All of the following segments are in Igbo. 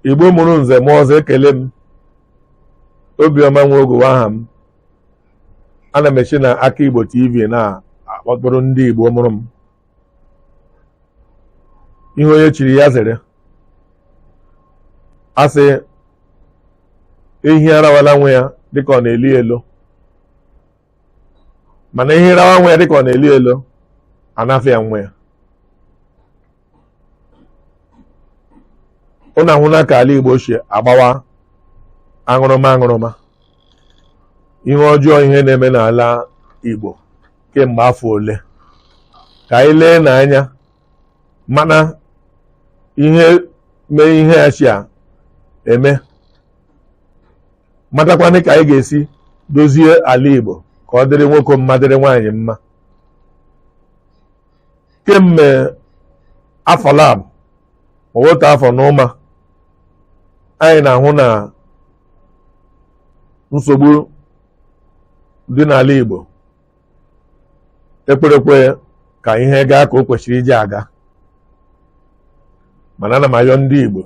igbo mụrụ nze mụọ ọzọ ekele m obiọma nwaogo wụ aha m ana m echi na aka igbo tv na-akpọtụrụ ndị igbo mụrụ m ihe onye chiri ya zere asị ehi arawala nwa ya dịka ọ na-eli elo mana ehi rawa nwa ya dịka ọ na-eli elo anafịa nwa ya ụnụ ahụla ka ala Igbo si agbawa aṅụrụma aṅụrụma ihe ọjọọ ihe na-eme n'ala Igbo kemgbe afọ ole ka anyị lee n'anya mana ihe mee ihe ya si a eme matakwanị ka anyị ga-esi dozie ala Igbo ka ọ dịrị nwoke mma dịrị nwaanyị mma kemgbe afọ lab oweta afọ na ụma anyị na-ahụ na nsogbu dị n'ala Igbo ekweghịkwa ka ihe gaa ka o kwesịrị iji aga mana ana m ayọ ndị Igbo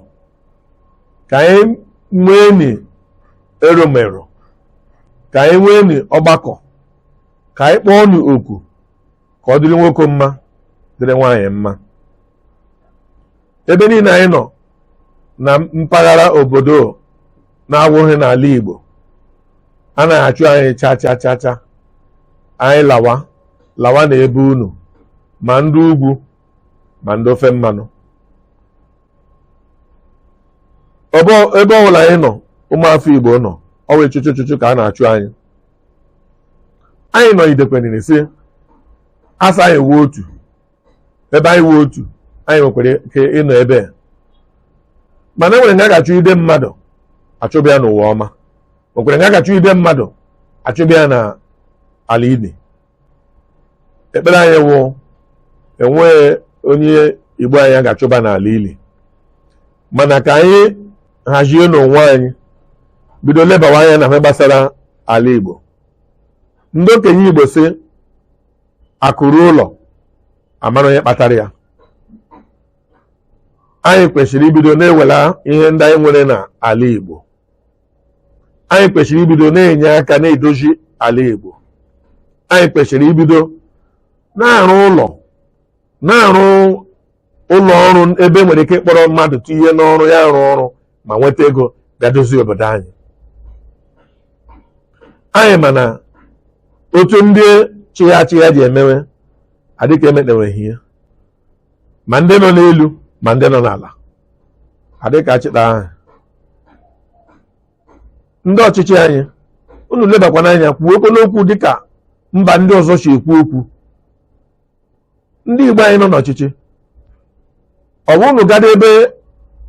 ka anyị nweeni eromero ka anyị nweeni ọgbakọ ka anyị kpọọnị oku ka ọ dịrị nwoke mma dịrị nwaanyị mma ebe niile anyị nọ na mpaghara obodo na-awụghị n'ala Igbo anaghị achụ anyị cha cha cha cha anyị lawa lawa na ebe unu ma ndị ugwu ma ndị ofe mmanụ ebe ọbụla anyị nọ ụmụafọ Igbo nọ ọ wụ ịchụchụ chụchụ ka a na-achụ anyị anyị nọgidekwanịrị sị asị anyị wụ otu ebe anyị wụ otu anyị nwekwara ike ịnọ ebe a. mana enwere nga a ga-achụgide mmadụ achụba ya n'ụwa ọma nwekwara nga a ga-achụgide mmadụ achụba ya na ala ili ekpere anyị wụ enweghị onye igbo anyị ga-achụba n'ala ili mana ka anyị hazieni onwe anyị bido lebawa anya na ihe gbasara ala igbo ndị okenye igbo sị akụ ruo ụlọ amara onye kpatara ya anyị kwesịrị ibido na-ewela ihe ndị anyị nwere n'ala igbo anyị kwesịrị ibido na-enye aka na-edozi ala Igbo anyị kwesịrị ibido na-arụ ụlọ na-arụ ụlọ ọrụ ebe e nwere ike ịkpọrọ mmadụ tinye n'ọrụ ya arụ ọrụ ma nweta ego ga-edozi obodo anyị anyị ma na otu ndị chịgha achịgha ji emewe adịka emekpeweghị ya ma ndị nọ n'elu ma ndị nọ n'ala adịka chịta ahụ ndị ọchịchị anyị unu lebakwana anya kwuo okwu n'okwu dịka mba ndị ọzọ si ekwu okwu ndị Igbo anyị nọ n'ọchịchị ọ bụ unu gada ebe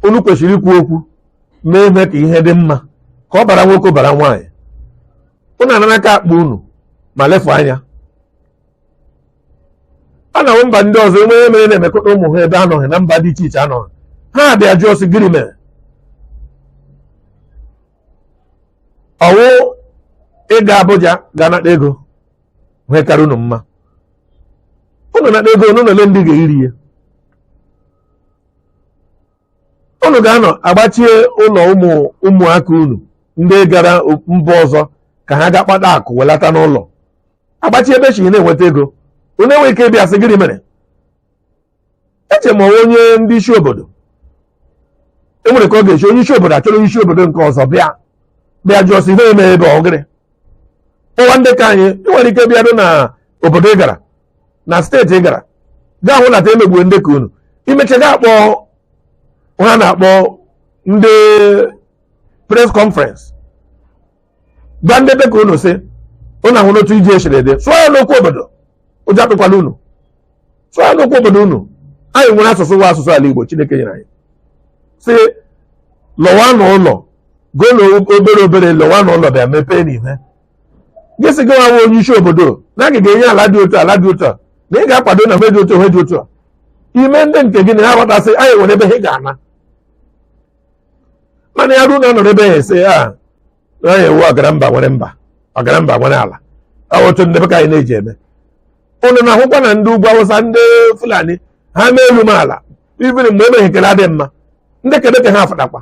unu kwesịrị ikwu okwu mee ihe ka ihe dị mma ka ọ bara nwoke bara nwaanyị unu anara aka akpa unu ma lefu anya a na-ahụ mba ndị ọzọ enwee ihe mere na-emekụta ụmụ ha ebe anọghị na mba dị iche iche anọghị ha abịa jụọ sị gịnị mere ọ wụ ịga Abuja ga nata ego wee kara unu mma unu nata ego unu olee ndị ga-eri ya unu ga-anọ agbachie ụlọ ụmụaka unu ndị gara mba ọzọ ka ha ga kpata akụ welata n'ụlọ agbachi ebe esi na-enweta ego unu enwee ike ịbịa sị gịnị mere eche m onye ndị isi obodo enwere ka ọ ga-echi onye isi obodo achọrọ onye isi obodo nke ọzọ bịa bịa jụọ sị ihe eme ebe ọ gịnị kpọwa ndị ka anyị ị nwere ike bịado na obodo ị gara na steeti ị gara gaa hụ nata emegbue ndị ka unu imecha ga akpọ ha na-akpọ ndị press conference gwa ndị be ka unu sị unu ahụ n'otu iji esiri dị sụọ ya n'okwu obodo ụjọ atụkwala unu sụọ ya n'okwu obodo unu anyị nwere asụsụ nwa asụsụ ala Igbo Chineke nyere anyị sị lọwa n'ụlọ goo na obere obere lọwa n'ụlọ bịa mepee n'ihe gị sị gị nwa nwe onye isi obodo na gị ga-enye ala dị otu ala dị otu na ị ga-akwado na mgbe dị otu oge dị otu ime ndị nke gị na ya ghọtasị anyị nwere ebe ha ga-ana mana ya ruo unu anọrọ ebe ahụ sị anyị wụ ọgara mba nwere mba ọgara mba nwere ala otu ndị be ka anyị na-eji eme unu na-ahụkwa na ndị ugwu Awụsa ndị Fulani ha mee elu mee ala ibiri mgbe emeghị kele adị mma ndị ke be ka ha afụtakwa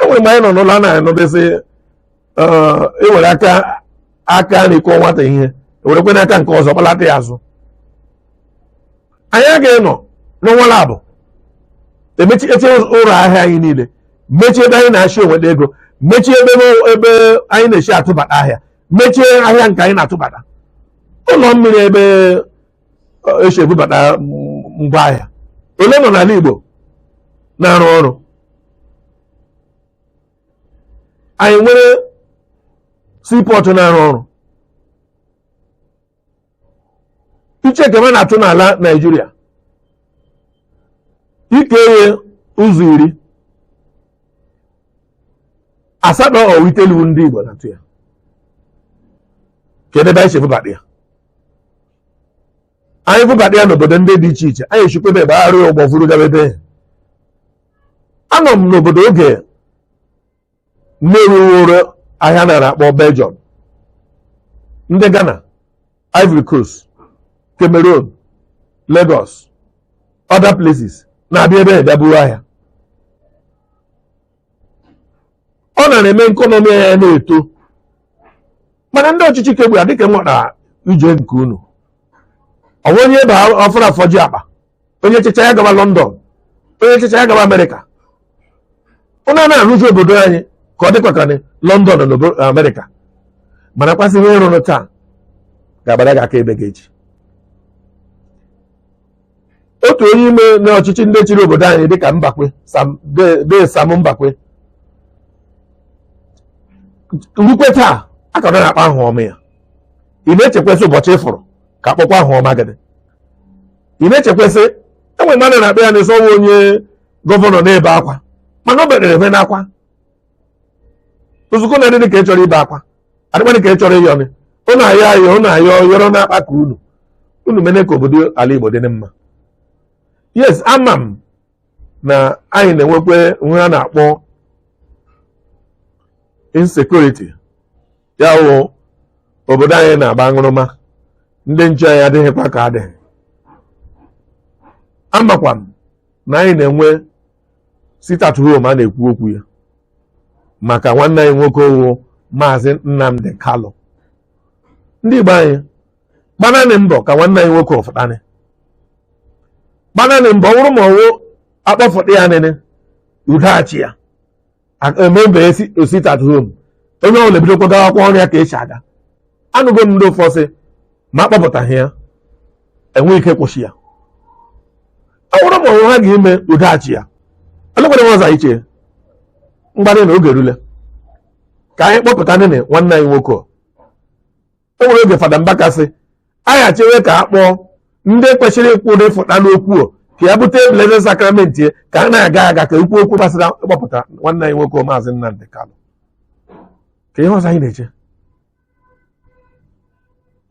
enwere mgbe anyị nọ n'ụlọ a na-anọdụ sị ewere aka nri kụọ nwata ihe ewerekwanụ aka nke ọzọ kpalata ya azụ anyị agaghị nọ n'ọnwa labụ emechi eche ụlọ ahịa anyị niile mechie ebe anyị na-esi enweta ego mechie ebe ebe anyị na-esi atụbata ahịa mechie ahịa nke anyị na-atụbata ụlọ mmiri ebe esi ebubata ngwa ahịa ole nọ n'ala Igbo na-arụ ọrụ anyị nwere seaport na-arụ ọrụ iche kebe na-atụ n'ala Naịjirịa i kee ya ụzọ iri asatọ ọ wụ itoolu ndị Igbo na-atụ ya kedu ebe anyị si ebubata ya anyị bubata ya n'obodo ndị dị iche iche anyị esikwa ebe arụ ụgbọ vuru gaba ebe anọ m n'obodo oge na-eruworo ahịa a na-akpọ Belgium ndị Ghana Ivory Coast Cameroon Lagos other places na-abịa ebe bịa buru ahịa ọ na-eme economy ya na-eto mana ndị ọchịchị ke ugbua dịka nwata ije nke unu ọwa onye ebe ọfụrụ afọ ji akpa onye chịchaa ya gaba London onye chịchaa ya gaba Amerịka unu ana-arụzi obodo anyị ka ọ dịkwa ka na London na Amerịka marakwa sị ihe ị rụrụ taa ga-agbara gị akaebe gị echi otu onye ime n'ọchịchị ndị chịrị obodo anyị dịka Mbakwe dee Sam Mbakwe rukwe taa a ka na-akpọ aha ọma ya ị na-echekwa sị ụbọchị ị fụrụ ka a kpọkwa aha ọma gị nị ị na-echekwa sị e nwere mgbe a na-akpọ ya na-asị ọ wụ onye gọvanọ na-ebe akwa mana o betere ihe n'akwa ozugbo na ndị ka ị chọrọ ibe akwa adịkwana ka ị chọrọ ịyọ m unu ayịyọ yọọ unu ayọ yọrọ na-akpa ka unu unu mene ka obodo ala Igbo dị mma yes ama m na anyị na-enwekwa ihe a na-akpọ insecurity ya wụ obodo anyị na-agba aṅụrụma ndị nche anyị adịghịkwa ka adịghị amakwa m na anyị na-enwe sit at home a na-ekwu okwu ya maka nwanne anyị nwoke ọ wụ maazị Nnamdi Kanu ndị Igbo anyị gbananị mbọ ka nwanne anyị nwoke ọfụtanị gbananị mbọ ọ bụrụ ma ọ wụ a kpọfụta ya nene udo achịa e mebie sit at home onye ọbụla ebidokwa gawakwa ọrụ ya ka e si aga anụgo m ndị ụfọ sị ma akpọpụtaghị ya enwe ike kwụsị ya ọ bụrụ ma ọ wụ ihe a ga-eme udo achịa olekwanụ ihe ọzọ anyị che gbananị oge erule ka anyị kpọpụta nene nwanne anyị nwoke e nwere oge Fada Mbaka sị aghachiwe ka a kpọọ ndị kwesịrị ikwuru fụta n'okwu ka ya bute Blessed Sacrament ka a na-aga aga ka e kwuo okwu gbasara ịkpọpụta nwanne anyị nwoke maazị Nnamdi Kanu kee ihe ọzọ anyị na-eche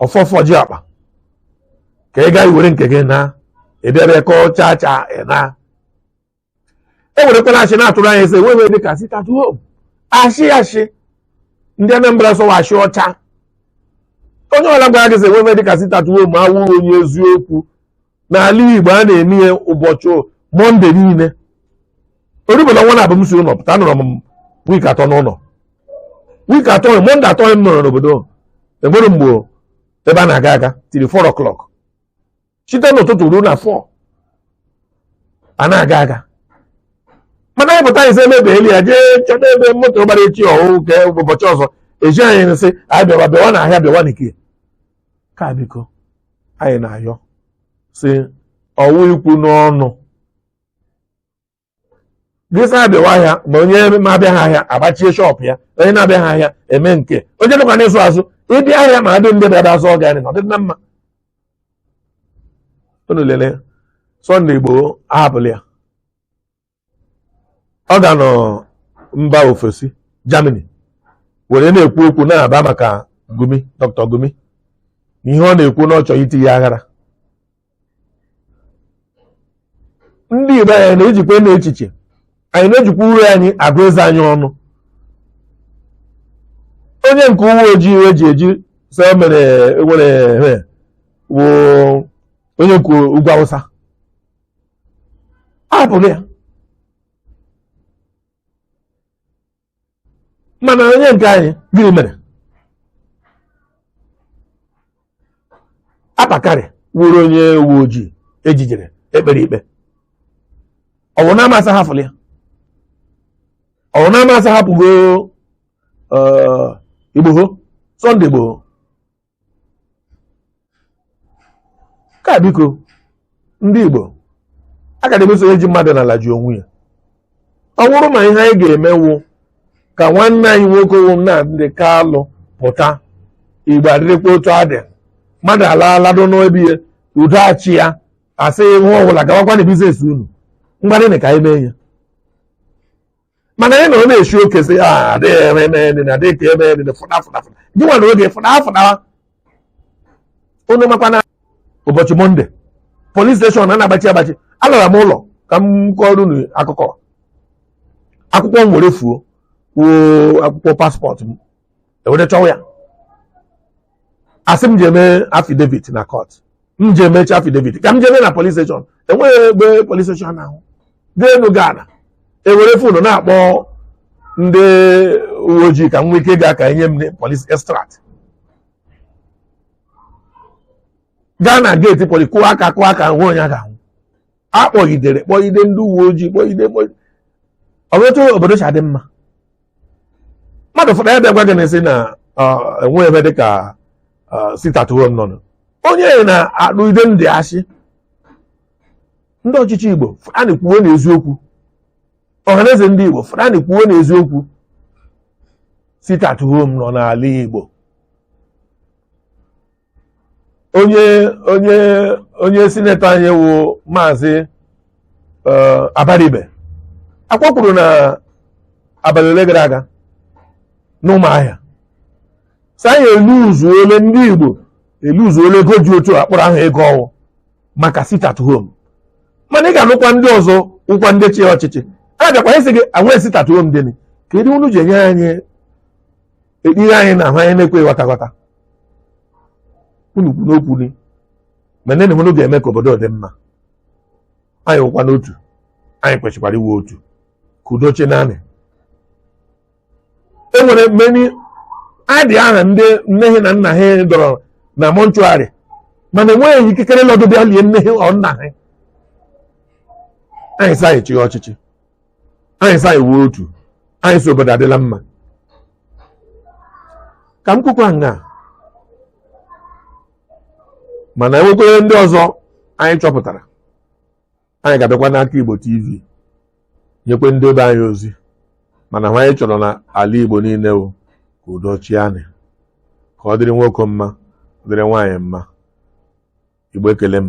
ọfọfọ ji akpa ka ị gaa iwere nke gị na ịbịabịa kọọ chaa chaa na e werekwala ashị na-atụrụ anyị sị enweghị ihe dị ka sit at home ashị ashị ndị Anambra sị ọ wụ asị ọcha onye ọbụla gwara gị sị enweghị ihe dị ka sit at home ma awụghị onye eziokwu n'ala Igbo a na-eme ya ụbọchị mọnde niile oribụla nwa na-abụ m si ụlọ pụta anọrọ m wik atọ n'ụlọ wik atọ mọnde atọ m nọrọ n'obodo enwere mgbe ebe a na-aga aga till 4 o'clock site n'ụtụtụ ruo na 4 a na-aga aga mana anyị pụta ise mebe elu ya jee chọta ebe moto gbara echi ọhụụ nke ụbọchị ọzọ eji anyị nsị anyị bịawa bịawa na ahịa bịawa n'ike ka biko anyị na-ayọ sị ọ wụghị ikwu n'ọnụ gị sị abịawa ahịa ma onye na-abịaghị ahịa agbachie shop ya onye na-abịaghị ahịa eme nke onye dịkwa n'ịsụ azụ ịbịa ahịa ma adị ndị bịara azụ ọga na ọdịdị na mma unu lelee Sunday Igboho ahapụla ya ọ gaa nọ mba ofesi Germany were na-ekwu okwu na-aba maka Gumi Dr. Gumi ihe ọ na-ekwu na ọ chọrọ itinye aghara ndị Igbo anyị na-ejikwa eme echiche anyị na-ejikwa ire anyị agụ eze anyị ọnụ onye nke uwe ojii iwe ji eji sị o mere nwere he bụ onye nke ugwu Awụsa ahapụrụ ya mana onye nke anyị gịnị mere Abba Kyari wụrụ onye uwe ojii ejijiri ekpere ikpe ọ bụ na amaghị sị ahafụla ya ọ bụ na amaghị sị ahapụgo eh, Igboho Sunday Igboho ka biko ndị Igbo akademi sị onye ji mmadụ n'ala ji onwe ya ọ bụrụ ma ihe anyị ga-emewu ka nwanne anyị nwoke wụ Nnamdi Kanu pụta Igbo adịrịkwa otu ọ dị mmadụ alaa lado na be ya udo achị ya asị ihe ọ bụla gawakwa na business unu gbalịanụ ka anyị mee ya mana ị nọrọ na-esi oke sị ya adịghị eme eme dị na dịka eme dị na fụta fụta fụta gị nwa na oge fụta fụta unu makwa na ụbọchị monde police station a na-agbachi agbachi alara m ụlọ ka m kọrọ unu akụkọ akwụkwọ m were fuo akwụkwọ passport m ewere chọwa ya asị m jee mee affidavit na court m jee mechaa affidavit ka m jebe na police station enweghị ebe police station ahụ ghe ọnụ gaa na-ewere fonu na-akpọ ndị uwe ojii ka m nwee ike gaa ka enye m police extract gaa na gate police kụọ aka kụọ aka enweghị onye a ga-ahụ a kpọgidere kpọgide ndị uwe ojii kpọgide kpọgide ọ bụ otu obodo si adị mma mmadụ fụta abịa gwa gị na-esi na ọ, enwe ihe dị ka sit at home nọnụ onye na-atụgide ndị asị ndị ọchịchị igbo a na-ekwuwe n'eziokwu ọhaneze ndị igbo a na-ekwuwe n'eziokwu sit at home nọ n'ala igbo onye onye onye sinetọ anyị wụ maazị eh, abaribe ọkwa o kwuru na abalị ole gara aga n'ụmụahịa sị anyị eluzuole ndị igbo eluzuole ego dị otu a kpọrọ aha ego ọ wụ maka sit at home mana ị ga-anụkwa ndị ọzọ wụkwa ndị chị ọchịchị abịakwa asị gị enwe sit at home dịnị kedu unu ji enye anyị ekpiri anyị na-ahụ anyị na-ekwe ghọta ghọta unu kwuru n'okwu ni mana ihe unu ga-eme ka obodo dị mma anyị wụkwa n'otu anyị kwesịkwara ịwụ otu ka udo chị naanị e nwere many ndị aha ndị nne ha na nna ha dọrọ na mortuary mana enweghị ikikere lọduo bịa lie nne ha or nna ha anyị sị anyị chị ọchịchị anyị sị anyị wụ otu anyị sị obodo adịla mma ka m kwukwa nga mana enwekwere ndị ọzọ anyị chọpụtara anyị ga-abịakwa n'aka Igbo TV nyekwe ndị obe anyị ozi mana ihe anyị chọrọ na ala Igbo niile wụ ka udo chịa nị ka ọ dịrị nwoke mma ọ dịrị nwaanyị mma Igbo ekele m